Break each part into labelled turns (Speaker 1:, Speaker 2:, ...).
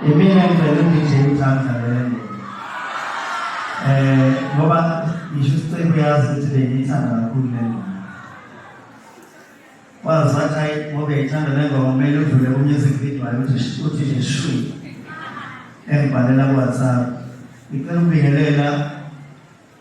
Speaker 1: Imina ngivele ngidle izandla lelo. Eh ngoba ngisho isicebo yazi ukuthi bengiyithanda kakhulu lelo. Wazathi ayi ngoba ithanda lelo kumele udlule ku music video ayo ukuthi uthi nje shwi. Engibhalela ku WhatsApp. Ngicela ukubingelela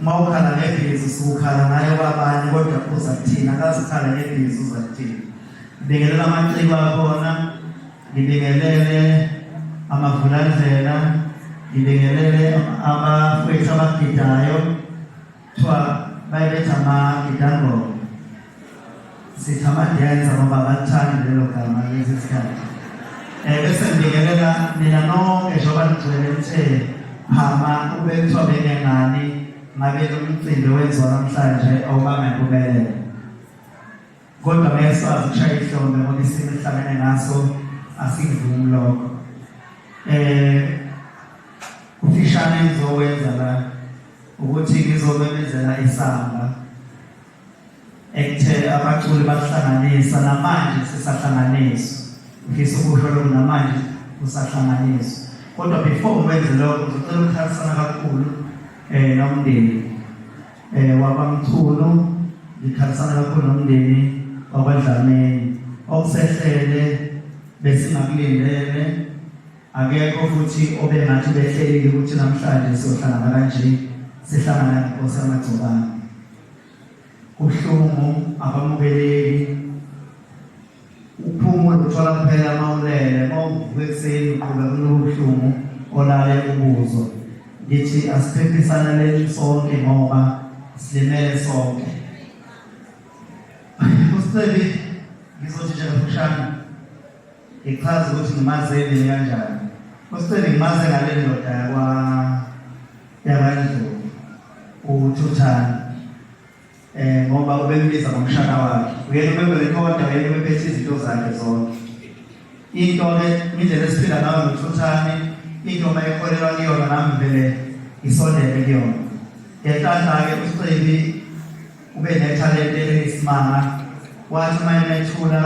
Speaker 1: uma ukhala ngebhizi sukukhala ngayo kwabanye kodwa uza kuthina akazikhala ngebhizi uza kuthina ngibingelela amaciko akhona ngibingelele amavulandlela ngibingelele abafowethu abagidayo kuthiwa bayibetha amagidangoma sithi amadenza ngoba abalithandi lelo gama lezi sikhathi um bese ngibingelela nina nonke njengoba nigcwele uthe phama kube kuthiwa benengani ngabe lo mcimbi wenziwa namhlanje awubanga impumelelo kodwa mesazi kushaya ihlombe ngoba isimo esihlangene ngaso asivumi lokho um ufishane ngizowenza la ukuthi ngizomemezela isamba ekuthele abaculi bahlanganisa namanje sisahlanganiswa ngifisa ukusho lokhu namanje kusahlanganiswa kodwa before ngikwenze lokho ngizocela ukukhalisana kakhulu um nomndeni um wakwamthunu ngikhalisana kakhulu nomndeni wakwadlameni okusehlele besingakulindele akekho futhi obengathi behlelile ukuthi namhlanje siyohlangana kanje sihlangana nenkosi yamagcobane Kubuhlungu abamukeleki uphuma luthola kuphela uma ulele uma uvuka ekuseni uqhuba kulobuhlungu olale ubuzo ngithi asiphephisana leli sonke ngoba silimele sonke usicebi ngizothi nje kafushane ngichaze ukuthi ngimazeni kanjani usicebi ngimaze ngale ndoda yakwa yakwaNdlovu uthuthana eh ngoba ubembiza ngomshana wakhe uyena ubeberekoda uyena ubephethe izinto zakhe zonke into ke indlela esiphila ngayo nothuthane into uma ekholelwa kuyona nami vele ngisondele kuyona ngenhlanhla-ke usicebi ube nethalente eliyisimanga wathi uma emethula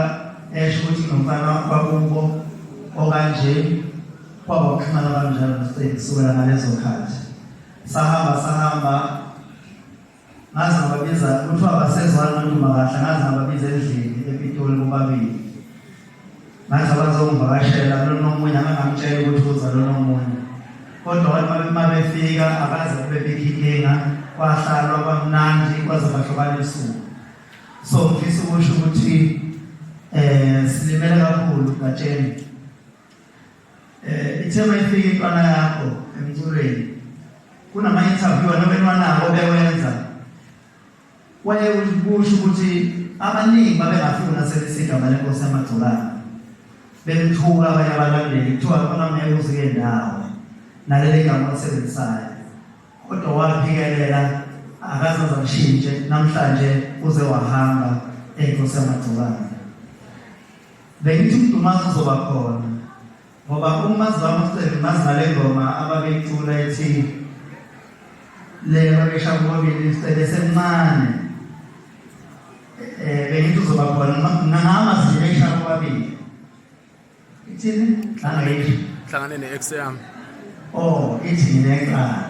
Speaker 1: esho ukuthi nomfana wakubo okanje Kwaba ukuxhumana kanjalo noStein kusukela ngalezo khathi. Sahamba sahamba ngaze ngababiza kuthiwa basezwana umuntu makahla ngaze ngababiza endlini ePitoli bobabili. Ngaze bazongivakashela lona omunye angangamtshela ukuthi uza lona omunye. Kodwa wathi uma befika akaze kube bikho inkinga kwahlalwa kwamnandi kwaze kwahlukana usuku. So ngifisa ukusho ukuthi eh silimele kakhulu gatsheni Eh ithe mayifika intwana yakho emculweni kunama interview anobenwanawo bewenza waye ukusho ukuthi abaningi babengafuna sebesika mali nkosi yamagcobane bemthuka abanye abalandeli kuthiwa khona ngeke uzike ndawo naleli gama olisebenzisayo kodwa waphikelela akazaza mshintshe namhlanje uze wahamba enkosi yamagcobane Bengithi uMdumazi uzoba khona ngoba umazi wami uCele mazi ngale ngoma ababeyicula ethi le babesha kubobili uCele semncane eh bengithi uzoba khona ngangama zibesha kubabili ithini hlangene
Speaker 2: hlangane ne-ex yami oh
Speaker 1: ithi ngineqala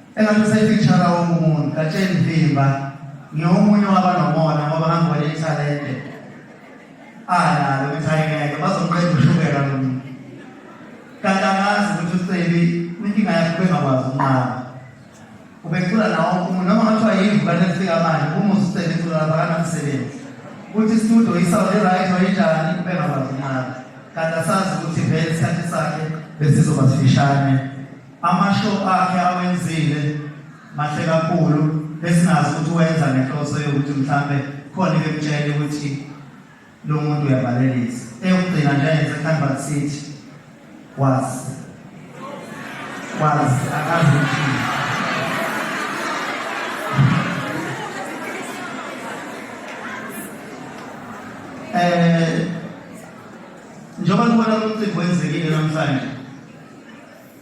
Speaker 1: Engathi usefeature wonke umuntu Gatsheni Vimba ngiyomunye wabanomona ngoba hamba wale talente analo ukuthi ayingeke bazomqeda ushukela lo muntu kanti angazi ukuthi ucebi inkinga yakhe ubengakwazi ukunqaba ubecula nawo umuntu noma ngathiwa yimvu kanti efika manje uma usucebi cula lapha kanamsebenzi ukuthi istudio isawundi right wayinjani ubengakwazi ukunqaba kanti asazi ukuthi vele isikhathi sakhe besizoba sifishane Amasho akhe awenzile mahle kakhulu besingazi ukuthi wenza ngenhloso yokuthi mhlambe khona ekutshela ukuthi lo muntu uyavalelisa eyokugcina nje yenze Canberra City wazi wazi akazi eh njengoba nibona umcimbi wenzekile namhlanje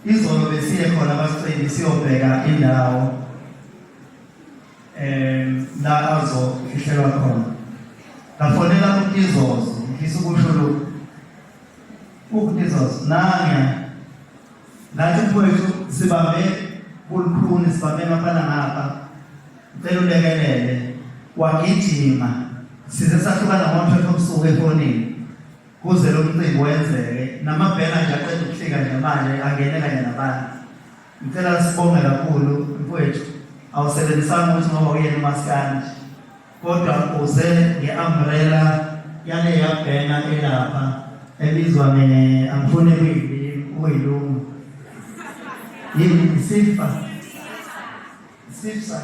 Speaker 1: Izolo besiye khona abasiceli siyobheka indawo um la azofihlelwa khona ngafonela umtizoz ngifisa ukusho lokhu umtizoz nanya nathi mfowethu sibambe kulukhuni sibambe ngapana ngapha ngicela ulekelele wagijima size sahlukana ngo-12 obusuku efonini Kuze lo mcimbi wenzeke namabhena nje aqeda ukuhlika nje manje angene kanye nabantu. Ngicela sibonge kakhulu mfowethu awusebenzisanga ukuthi ngoba uyena umaskandi kodwa uze nge-umbrella yale yabhena elapha ebizwa nge angifune kuyilimi kuyilungu yini isifa Sipsa.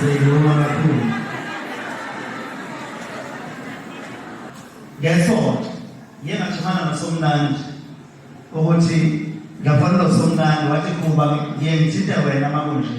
Speaker 1: Siyabonga kakhulu. Ngesonto ngeke ngajimana nosomnandi ukuthi ngiyafana nosomnandi wathi kuba ngiye ngithinte wena makunje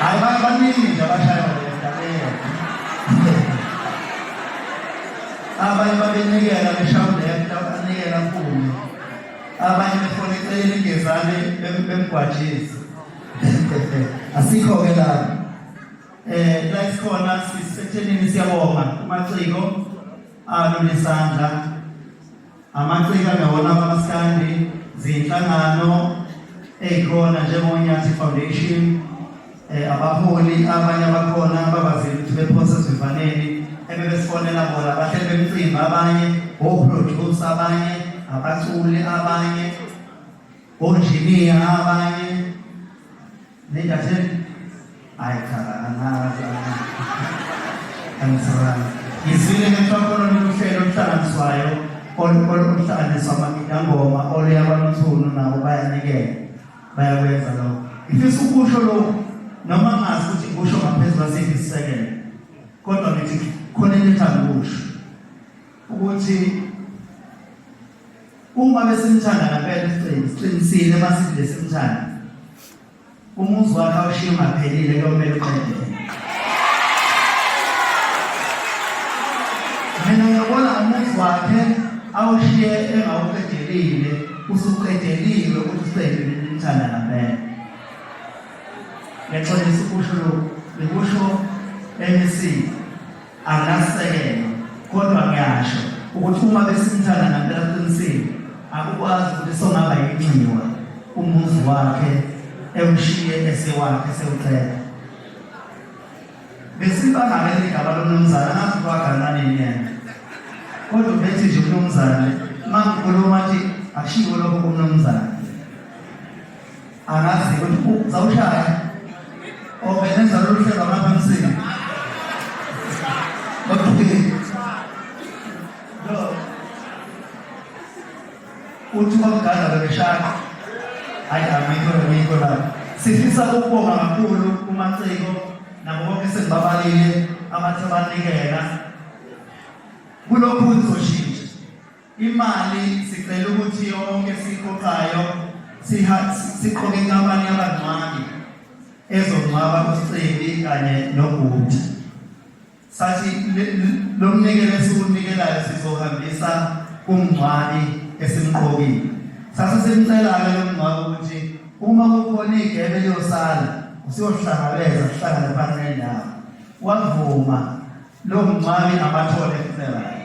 Speaker 1: hayi baningi nje abashaya abanye babenikela beshawulento abanikela mpunge abanye befuna eceleni ingezane bemgwajezi asikho-ke lapho um eh, la sikhona sisethenini siyabonga kumaciko alule sandla Amaciko angawona amaskandi zinhlangano ezikhona njengonyathi foundation eh, abaholi abanye abakhona ababazile ukuthi bephose esivivaneni ebebesifonela bona bahleli bemcimbi abanye oproduce abanye abaculi abanye onjiniya abanye Nendatheni? Hayi cha angazi angisabanga. Ngizwile ngenhlokolo lokuhlelo oluhlanganiswayo oluhlanganiswa amagidangoma oluya kwaluthunu nabo bayanikela bayakwenza lokho. Ngifisa ukusho lokhu noma ngazi ukuthi ngikusho ngaphezu kwasiphi isisekelo kodwa ngithi khona into ethanda ukusho ukuthi Uma besimthanda ngempela isiqiniso, siqinisile uma sithi besimthanda. Umuzi wakhe awushiye ungaphelile kuyomele uqedele. Mina ngiyabona umuzi wakhe awushiye engawuqedelile, usuqedelile ukuthi useyibe nimthanda ngempela. Ngexolisa ukusho lokhu, ngikusho emisini. akasekwa kodwa ngiyasho ukuthi uma besimthanda ngampela qinisile akukwazi ukuthi songaba yinxiwa umuzi wakhe ewushiye esewakhe sewuqeda besibangale ligaba lomnumzane angazi kwaganani yena kodwa ubethi nje umnumzane makukhuluma athi akushiwo lokho kumnumzane angazi ukuthi uzawushaya obenenza lolu hlelo lapha emsika uthi kwakugada bebeshaya hayi amikho amikho la sifisa ukubonga kakhulu kumaciko nabo bonke sengibabalile abathe banikela kulokhu kuzoshintsha Imali sicela ukuthi yonke siqoqayo siqoke inkampani yabangcwabi ezongcwaba uScebi kanye noBhuti. Sathi lo mnikelo esiwunikelayo sizohambisa kumngcwabi esimqokile. Sase simcela-ke lo mngcwabi ukuthi uma kukhona igebe eliyosala usiyohlangabeza sihlangane phansi nendawo. Wavuma lomngcwabi abathole funeral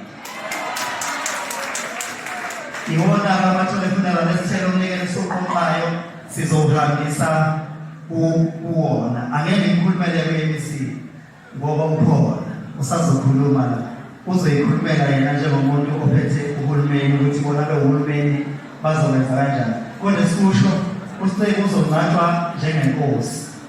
Speaker 1: iwona abathole funeral esithelo umnikelo soqoqayo sizowuhambisa kuwona angeke ngikhulumele kwe-mc ngoba ukhona usazokhuluma la uzoyikhulumela yena njengomuntu ophethe uhulumeni ukuthi bona lo hulumeni bazowenza kanjani kodwa sikusho usiceke uzongcatshwa njengenkosi